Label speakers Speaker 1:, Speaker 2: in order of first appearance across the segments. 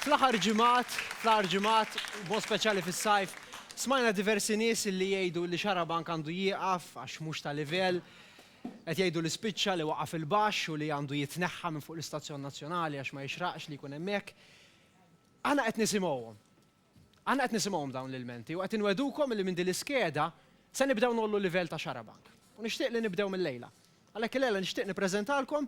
Speaker 1: Fl-aħħar ġimgħat, fl-aħħar ġimgħat, b'mod speċjali fis-sajf, smajna diversi nies li jgħidu li Xarabank għandu jieqaf għax mhux ta' livell. Qed jgħidu li spiċċa, li waqa' fil-baxx u li għandu jitneħħa minn fuq l-istazzjon nazzjonali għax ma jixraqx li jkun hemm hekk. Aħna qed nisimgħuhom. Aħna qed nisimgħuhom dawn l-ilmenti u qed inwegħdukom li minn din l-iskeda se nibdew ngħollu l-livell ta' Xarabank. U nixtieq li nibdew mil-lejla. Għalhekk il-lejla nixtieq nippreżentalkom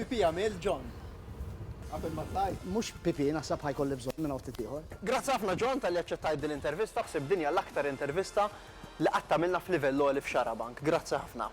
Speaker 2: Pipì għamilt, John? Qabel ma tlajt? Mhux pipì, naħseb
Speaker 3: ħa jkolli bżonn minn outfit ieħor. Grazzi ħafna John talli
Speaker 2: aċċettajt din l-intervista, ħsibt din hija l-aktar intervista li qatt għamilna f'livell għoli f'Xarabank. Grazzi ħafna.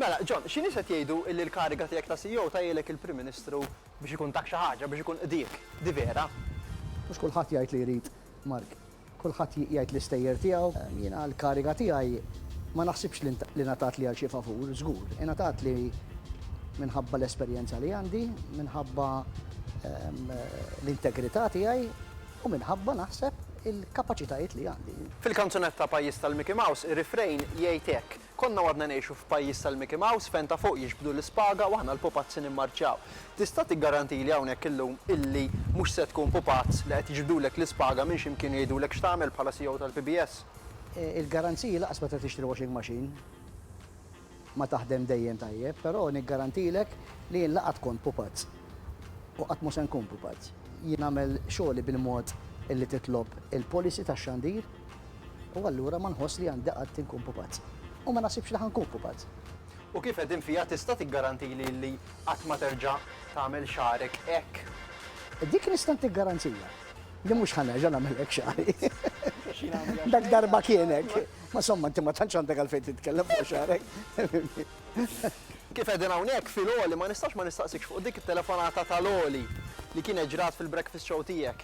Speaker 2: Mela, John, xi nies qed jgħidu illi l-kariga tiegħek ta' CEO tgħajjilek il-Prim Ministru Biex ikun tak xi ħaġa, biex ikun qdiek. Di vera. Mhux kulħadd
Speaker 3: jgħid li jrid Mark. Kulħadd jgħid l-istejjer tiegħu. Jiena l-kariga tiegħi ma naħsibx li ngħatatli għal xi favur, żgur. Ingħatatli minħabba l-esperjenza li għandi, minħabba l-integrità tiegħi u minħabba, naħseb, il-kapaċitajiet li għandi. Fil-kanzunetta Pajjiż
Speaker 2: tal-Mickey Mouse, ir-refrain jgħid hekk, Konna u għadna ngħixu f'pajjiż tal-Mickey Mouse fejn ta' fuq jiġbdu l-ispaga u aħna l-pupazzi nimmarċjaw. Tista' tiggarantili hawnhekk illum illi mhux se tkun pupazz li qed jiġbdulek l-ispaga minn xi mkien u jgħidulek x'tagħmel bħala CEO tal-PBS? Il-garanziji
Speaker 3: lanqas meta tixtri washing machine ma taħdem dejjem tajjeb, però niggarantilek li jien la qatt kont pupazz u qatt mhu se nkun pupazz. Jien nagħmel xogħli bil-mod illi titlob il-policy tax-xandir U allura ma nħoss li għandi qatt inkun pupazz. U ma naħsibx li ħa nkun pupazz. U kif qegħdin
Speaker 2: fija tista' tiggarantili li qatt ma terġa' tagħmel xagħrek hekk? Dik nista'
Speaker 3: ntik garanzija. Li mhux ħa nerġa' nagħmel hekk xagħri. Dak darba kien hekk. Ma somma inti ma tantx għandek għalfejn titkellem fuq xagħrek.
Speaker 2: Kif qegħdin hawnhekk fil-għoli ma nistax ma nistaqsikx fuq dik it-telefonata tal-għoli li kienet ġrat fil-breakfast show tiegħek.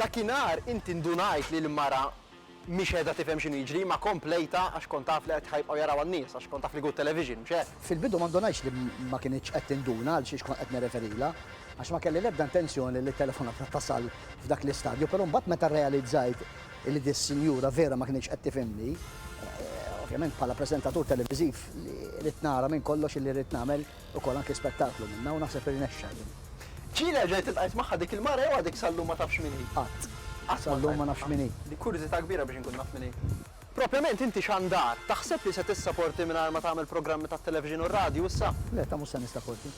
Speaker 2: Dakinhar inti ndunajt li l-mara mhix qiegħda tifhem x'inhu jiġri, ma komplejtha għax kont taf li qed ħa jibqgħu jarawha n-nies għax kont taf li good television, mhux hekk? Fil-bidu ma ndunajtx li
Speaker 3: ma kinitx qed tinduna għal xiex kont qed nirreferilha għax ma kelli l-ebda intenzjoni li t-telefonata tasal f'dak l-istadju, però mbagħad meta rrealizzajt li dis-sinjura vera ma kinitx qed tifhimni, ovvjament bħala preżentatur televiżiv ridt nara minn kollox li ridt nagħmel, Ukoll anke spettaklu minnha u naħseb irnexxa din. Ġieli erġajt
Speaker 2: iltqajt magħha dik il-mara jew għadek sal-lum ma tafx min hi? Qatt. Qatt ma
Speaker 3: Sal-lum ma nafx min hi. Dik kurżità kbira biex
Speaker 2: inkun naf min hi. Propjament inti xandar, taħseb li se tissaporti mingħajr ma tagħmel programmi tat-televixin u r-radju issa? Le, ta' mhux se nissaporti.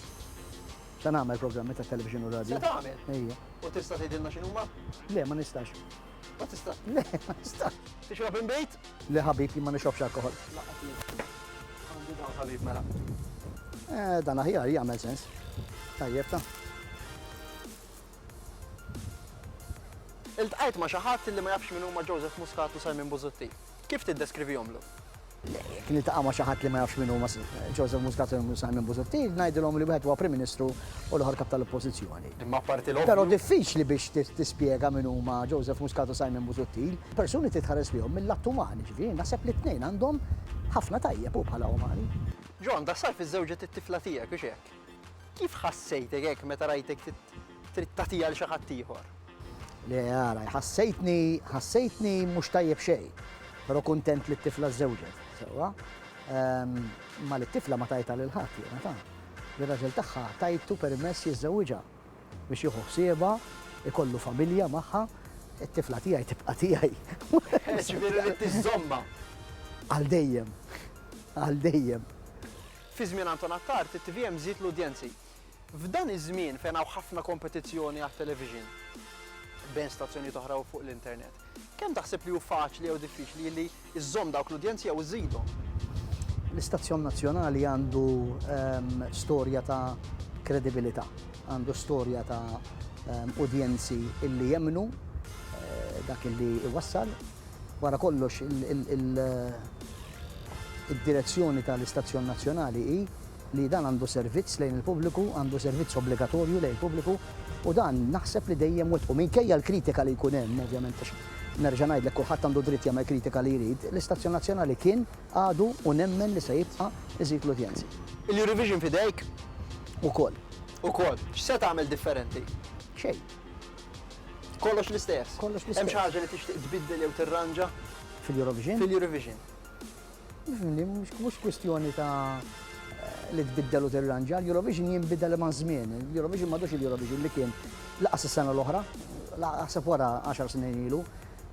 Speaker 3: Se nagħmel programmi tat-televixin u r-radju. Se tagħmel? Ejja. U
Speaker 2: tista'
Speaker 3: tgħidilna
Speaker 2: x'inhuma? Le, ma nistax. Ma tistax.
Speaker 3: Le, ma tistax. Tixrob imbejt?
Speaker 2: Le ħabib ma
Speaker 3: nixrobx alkohol. Għandi dawn
Speaker 2: ħabib mela. Eh,
Speaker 3: dan aħjar jagħmel sens. Tajjeb ta'.
Speaker 2: Iltqajt ma' xi ħadd li ma jafx min huma Joseph Muscat u Simon Buzutti. Kif tiddeskrivihomlu? Jekk
Speaker 3: niltaqa' ma' xi ħadd li ma jafx min huma Joseph Muscat u Simon Busuttil, ngħidilhom li wieħed huwa Prim Ministru u l-ieħor Kap tal-Oppożizzjoni. Imma apparti l-ovvju. Però
Speaker 2: diffiċli biex
Speaker 3: tispjega min huma Joseph Muscat u Simon Busuttil. Persuni trid tħares lejhom mill-lat umani, jiġifieri naħseb li t-tnejn għandhom ħafna tajjeb, hu bħala umani. John, daħsar
Speaker 2: fiż-żewġet it-tifla tiegħek, hux hekk? Kif ħassejtek hekk meta rajtek trid tagħtiha għal xi ħadd ieħor? Le,
Speaker 3: ara, ħassejtni, ħassejtni mhux tajjeb xejn, però kuntent li t-tifla żżewġet, sewwa. Ehm, ma li t-tifla ma tajta lil ħadd jiena ta' li raġel tagħha tajtu permess jiżżewġha biex jieħu ħsiebha, ikollu familja magħha, it-tifla tiegħi tibqa' tiegħi. Ġifieri li
Speaker 2: tiżomma. Għal
Speaker 3: dejjem. Għal dejjem. Fi żmien
Speaker 2: Anton Attard, it-tvm żied l-udjenzi. F'dan iż-żmien fejn hawn ħafna kompetizzjoni għat-television bejn stazzjonijiet oħra u fuq l-internet, kemm taħseb li hu faċli jew diffiċli li żżomm dawk l-udjenzi jew iżżidhom? L-istazzjon
Speaker 3: nazzjonali għandu storja ta' kredibilità, għandu storja ta' udjenzi li jemmnu dak li jwassal. Wara kollox, id-direzzjoni tal-istazzjon nazzjonali hi li dan għandu servizz lejn il-pubbliku, għandu servizz obbligatorju lejn il-pubbliku, u dan naħseb li dejjem wettqu. Minkejja l-kritika li jkun hemm, ovvjament, għax nerġa' ngħidlek kulħadd għandu dritt jagħmel kritika li jrid, l-istazzjon nazzjonali kien, għadu u nemmen li se jibqa' iżid l-udjenzi. Il-Eurovision f'idejk?
Speaker 2: Ukoll.
Speaker 3: Ukoll.
Speaker 2: X'se tagħmel differenti? Xejn. Kollox l-istess. Kollox l-istess. Hemm xi ħaġa li
Speaker 3: tixtieq tbiddel
Speaker 2: jew tirranġa? Fil-Eurovision? Fil-Eurovision.
Speaker 3: Mhux kwistjoni ta' li tbiddel u tirranġa, l-Eurovision jinbidel ma' żmien. L-Eurovision m'għadux il-Eurovision li kien laqas is-sena l-oħra, laqaseb wara 10 snin ilu.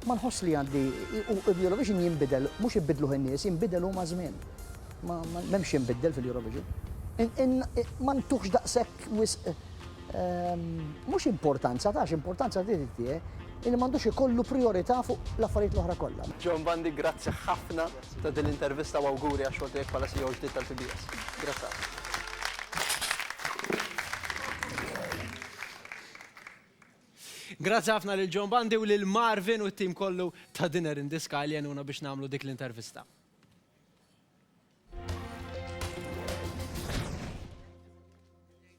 Speaker 3: Ma nħoss li għandi l-Eurovision jinbidel, mhux ibidluh in-nies, jinbidel hu ma' żmien. M'hemmx jinbidel fil-Eurovision. Ma ntuħx daqshekk wisq mhux importanza tax, importanza trid tih illi m'għandux ikollu prijorità fuq l-affarijiet l-oħra kollha. John Bundy, grazzi
Speaker 2: ħafna ta' din l-intervista u awguri għax-xogħol tiegħek bħala CEO ġdid tal-PBS. Grazzi ħafna.
Speaker 1: Grazzi ħafna lil John Bundy u lil Marvin u t-tim kollu ta' Dinner in the Sky li għenuna biex nagħmlu dik l-intervista.